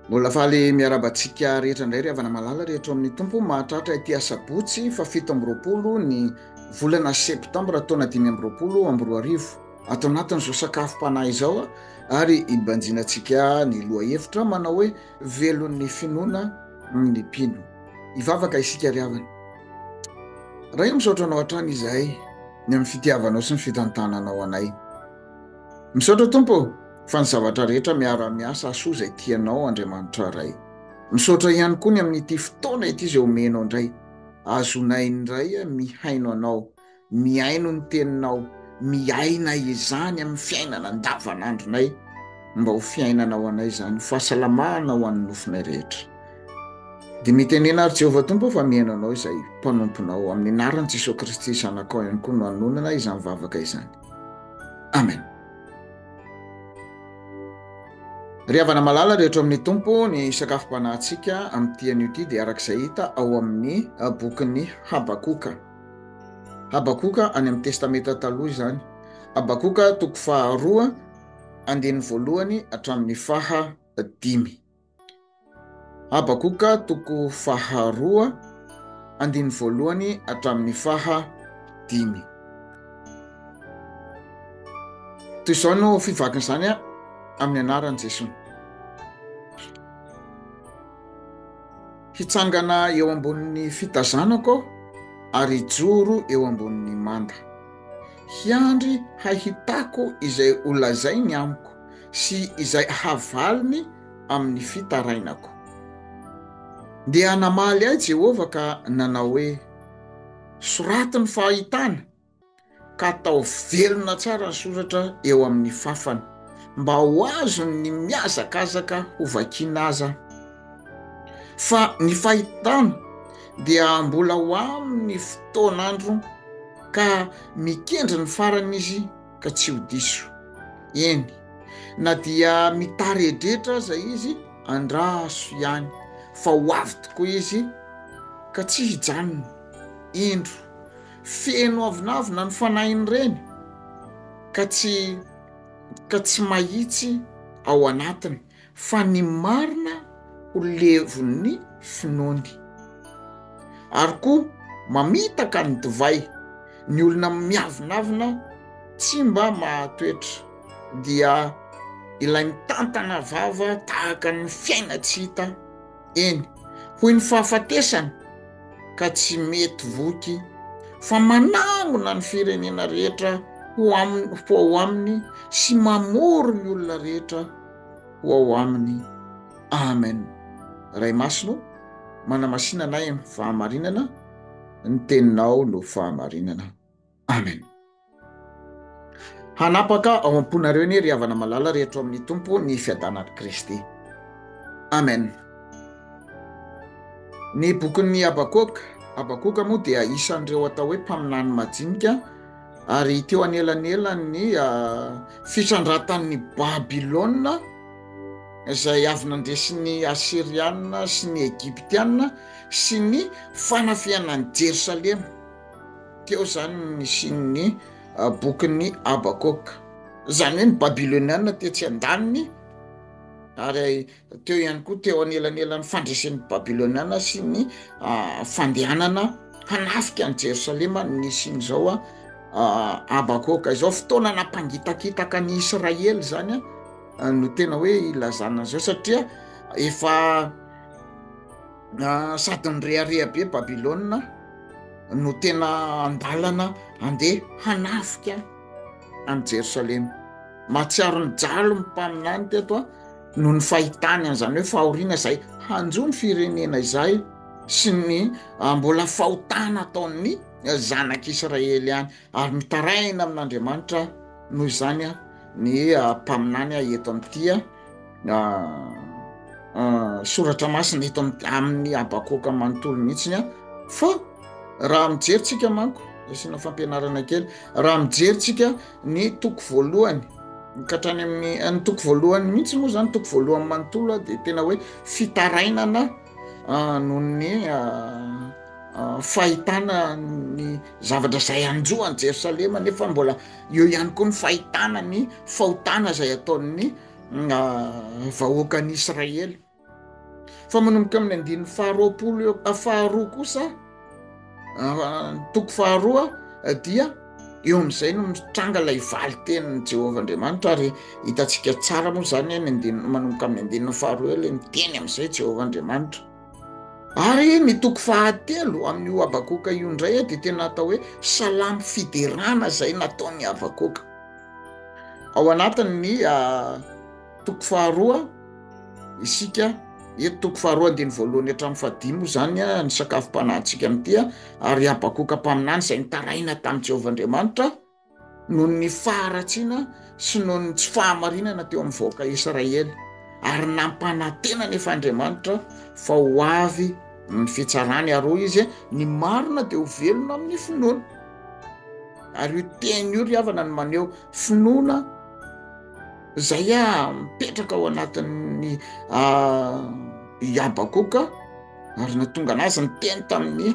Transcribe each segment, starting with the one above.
Mbola faly miaraba antsika rehetra indray ry havana malala rehetra ao amin'ny tompo mahatratra ity asabotsy fa fito amby roapolo ny volana septambra taona dimy amby roapolo amby roa arivo ato anatin'izao sakafom-panahy izao ary hibanjina antsika ny loha hevitra manao hoe velon'ny finoana ny mpino hivavaka isika ry havana raha io misaotra anao hatrany izahay ny amin'ny fitiavanao sy ny fitantananao anay Misaotra Tompo fa ny zavatra rehetra miara miasa asoa zay tianao Andriamanitra Ray. Misaotra ihany koa ny amin'ity fotoana ity zay omenao ndray azonay ndray mihaino anao, mihaino ny teninao, miaina izany amin'ny fiainana andavanandronay mba ho fiainana ho anay zany fahasalamana ho an'ny nofonay rehetra. Dia mitenena ary Jehovah Tompo fa mihaino anao izay mpanomponao amin'ny anaran'i Jesoa Kristy zanakao ihany koa no anonona izany vavaka izany. amen ry havana malala rehetra ao amin'ny tompo ny sakafom-panahintsika amin'ity anio ity dia araka izay hita ao amin'ny ah, bokin'ny habakoka habakoka any amin'ny testamenta taloha izany habakoka toko faharoa andininy voalohany hatramin'ny faha dimy Habakoka toko faharoa andiny voalohany hatramin'ny faha dimy. Toy izao no fivakin'izany amin'ny anaran'i Jesoa. Hitsangana eo ambonin'ny fitazanako ary hijoro eo ambonin'ny manda. Hiandry hahitako izay holazainy amiko. sy izay havaliny amin'ny fitarainako. Dia namaly ahy Jehovah ka nanao hoe, Soraty ny fahitana, ka atao velona tsara ny soratra eo amin'ny fàfany, mba ho azony ny mihazakazaka hovakiana aza. Fa ny fahitana dia mbola ho amin'ny fotoan'andro, ka mikendry ny farany izy, ka tsy ho diso, eny, na dia mitaredretra aza izy, andraso ihany fa ho avy tokoa izy ka tsy hijanona, indro, feno avonavona ny fanahin'ireny ka tsy ka tsy mahitsy ao anatiny. fa ny marina ho levon'ny finoany. Ary koa mamitaka ny divay, ny olona miavonavona tsy mba mahatoetra, dia ilay mitantana vava tahaka ny fiaina tsy hita, eny hoy ny fahafatesana ka tsy mety voky fa manangona ny firenena rehetra ho aminy ho ao aminy sy mamory ny olona rehetra ho ao aminy amen ray masino manamasinanay ny fahamarinana ny teninao no fahamarinana Amen. Hanapaka ao am-ponareo anie ry havana malala ry hatro amin'ny Tompo ny fiadanan'i Kristy. Amen. Ny bokin'ny Habakoka, Habakoka moa dia isan'ireo atao hoe mpaminany majinika ary teo anelanelan'ny ah, fitrandratan'ny Babylona izay avy nandesin'ny Asiriana sy ny Egyptiana sy ny fanafihana an'i Jerosalema. Teo izany no nisian'ny bokin'i Habakoaka. Izany hoe ny Babylonianina tetsy an-daniny, ary teo ihany koa teo anelanelan'ny fandresen'ny Babylonianina sy ny fandehanana hanafika an'i Jerosalema no nisian'izao Habakoaka izao. Fotoana nampangitakitaka an'i Israely izany no tena hoe ilazana an'izao, satria efa sady nirehareha be Babylona no tena andalana andeha hanafika any Jerosalema. Mahatsiaro ny jalo ny mpaminany teto a no ny fahitany an'izany hoe fahoriana izay hanjo ny firenena izay sy ny ah, mbola fahotana ataon'ny zanak'Israely ihany ary mitaraina amin'Andriamanitra noho izany a ny ah, mpaminany a eto amin'ity a soratra masina eto amin'ny habakoka manontolo mihitsiny a fa raha mijeryntsika manko asiana fampianarana kely raha mijeryntsika ny toko voalohany mikatrany amin'ny eh, ny toko voalohany mihitsy moa zany toko voalohany manontolo a dia tena hoe fitarainana ah, noho ny ah, ah, fahitana ny zavatra zay anjoany jerosalema nefa mbola Eo ihany koa ny fahitana ny fahotana izay ataon'ny ah, vahoakan'i Israely. Fa manomboka amin'ny andininy faharoapolo eo ah, faharoa kosa ah, toko faharoa dia eo amin'izay no mitranga ilay valitenin'i Jehovah Andriamanitra ary hitantsika tsara moa izany any andininy manomboka amin'ny andininy faharoa eo ilay miteny amin'izay Jehovah Andriamanitra. Ary ny toko fahatelo amin'io Habakoka io indray dia tena atao hoe salamo fiderana izay nataon'i Habakoka. Ao anatin'ny ah, toko faharoa isika eto toko faharoa andiny voalohany hatramin'ny fahadimy moa izany ah, ny sakafom-panahintsika amin'ity ah, ary Habakoka mpaminany izay nitaraina tamin'i Jehovah Andriamanitra noho ny faharatsiana sy noho ny tsy fahamarinana teo amin'ny vahoaka Israely, ary nampanantena anefa Andriamanitra fa ho avy ny fitsarany, ary hoy izy, ny marina dia ho velona amin'ny finoana. Ary io teny io ry havana no maneho finoana izay a mipetraka ao anatin'ny Habakoka, ary natonga anazy ny teny tamin'ny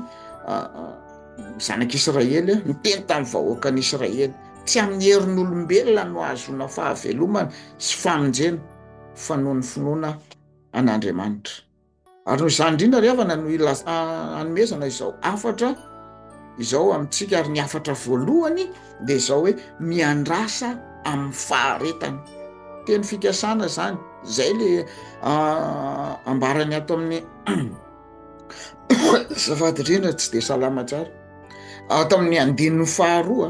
Zanak'Israely niteny tamin'ny vahoakan'Israely, Tsy amin'ny herin'olombelona no ahazoana fahavelomana sy famonjena fa noho ny finoana an'Andriamanitra. Ary noho izany indrindra ry havana no ilaz... anomezana izao hafatra izao amintsika ary ny hafatra voalohany dia izao hoe miandrasa amin'ny faharetana. Teny fikasana izany, izay le ambarany ato amin'ny zafady rena tsy de salama tsara ato amin'ny andininy faharoa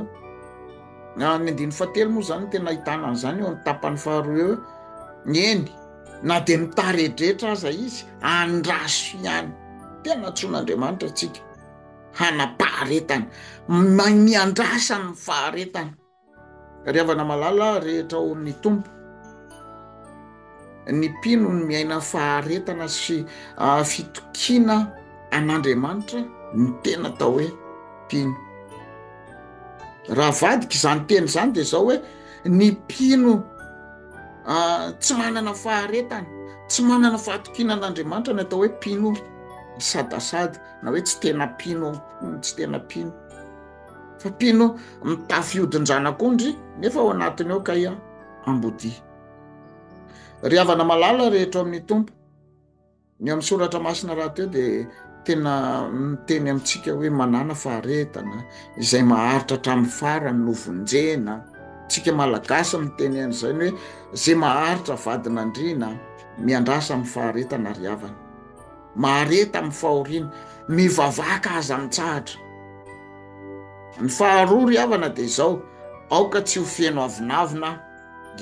na ny andininy fahatelo moa zany tena ahitana an'izany eo amin'ny tapany faharoa eo ny eny na de mitaredretra aza izy andraso ihany tena tson'andriamanitra atsika hanapaharetana mamiandrasany faharetana Tariavana malala rehetra ao amin'ny Tompo. Ny mpino ny miaina faharetana sy ah, fitokiana an'Andriamanitra ny tena atao hoe mpino. Raha vadika izany teny izany dia izao hoe ny mpino ah, tsy manana faharetana, tsy manana fahatokiana an'Andriamanitra ny atao hoe mpino sadasada na hoe tsy tena mpino, tsy tena mpino. fa mpino mitafy odin-dranak'ondry nefa ao anatiny ao kay ambodia. Ry havana malala rehetra ao amin'ny Tompo, ny amin'ny soratra masina rahateo dia tena miteny amintsika hoe manana faharetana izay maharitra hatramin'ny farany no vonjena. Tsika malagasy miteny an'izay ny hoe izay maharitra vadin'andriana miandrasa amin'ny faharetana ry havana. mahareta amin'ny fahoriana, mivavaka aza mitsahatra. Ny faharoa ry havana dia izao, aoka tsy ho feno avonavona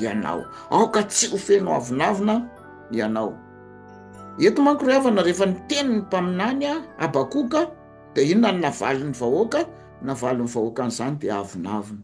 ianao, aoka tsy ho feno avonavona ianao. Eto manko ry havana, rehefa niteny ny mpaminany Habakoka dia inona no navalin'ny vahoaka? Navalin'ny vahoaka an'izany dia avonavona.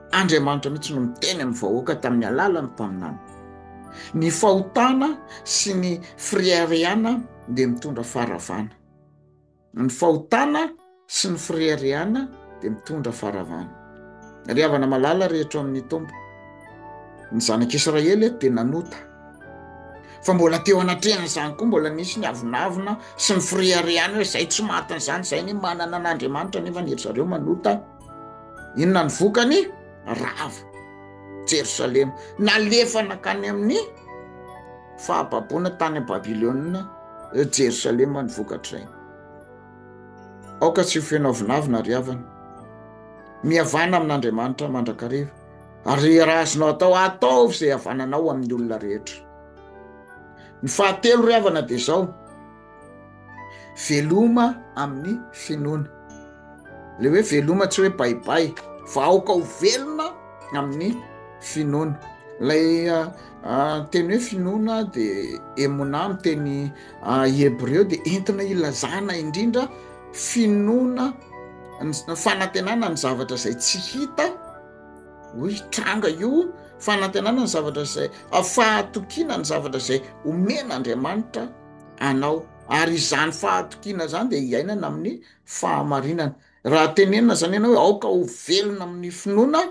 Andriamanitra mihitsy no niteny amin'ny vahoaka tamin'ny alalan'ny mpaminany. Ny fahotana sy ny fireharehana dia mitondra faharavana. Ny fahotana sy ny fireharehana dia mitondra faharavana. Ry havana malala rehetra ao amin'ny Tompo, ny zanak'Israely eto dia nanota. Fa mbola teo anatrehan'izany koa mbola nisy ny avonavona sy ny fireharehana hoe izay tsy matin'izany izay ny manana an'Andriamanitra nefa ny ry zareo manota. Inona ny vokany? Rava Jerosalema, nalefa nakany amin'ny fahababoana tany Babylona, Jerosalema ny vokatr'izay. Aoka tsy ho feno avonavona ry havana. Mihavana amin'Andriamanitra mandrakariva ary raha azonao atao ataovy izay havananao amin'ny olona rehetra. Ny fahatelo ry havana dia izao, veloma amin'ny finoana le hoe veloma tsy hoe baibay fa aoka ho velona amin'ny finoana lay ah, ah, teny hoe finoana de emona am teny ah, hebreo de entina ilazana indrindra finoana fanantenana ny zavatra zay tsy hita ho hitranga io fanantenana ny zavatra zay afahatokiana ny zavatra zay omen'andriamanitra anao. Ary izany fahatokiana izany dia iainana amin'ny fahamarinana. Raha tenenina izany ianao hoe aoka ho velona amin'ny finoana,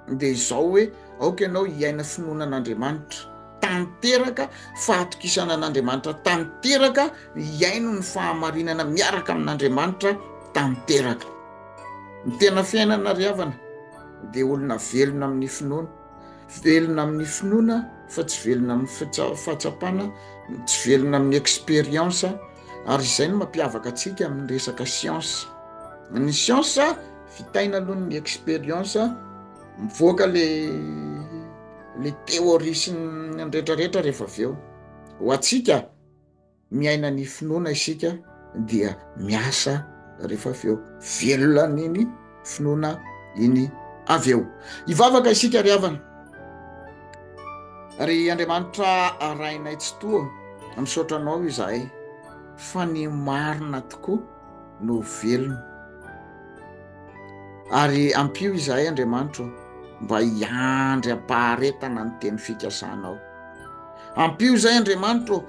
dia izao hoe aoka ianao hiaina finoana an'Andriamanitra tanteraka, fahatokisana an'Andriamanitra tanteraka, hiaino ny fahamarinana miaraka amin'Andriamanitra tanteraka. Ny tena fiainana ry havana dia olona velona amin'ny finoana. Velona amin'ny finoana fa tsy velona amin'ny fahatsapana, tsy velona amin'ny expérience ary izay no mampiavaka antsika amin'ny resaka science. Ny science vitaina aloha ny expérience, mivoaka le le théorie sy ny retraretra rehefa avy eo ho antsika. miaina ny finoana isika dia miasa rehefa avy eo velona n'iny finoana iny avy eo hivavaka isika ry havana ry andriamanitra arainay tsy toa misaotra anao izahay fa ny marina tokoa no velona ary ampio izahay andriamanitro mba hiandry ampaharetana ny teny fikasanao ampio izay andriamanitro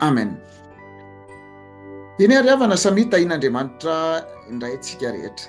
amen eny ary havana samia tahin'andriamanitra indray tsika rehetra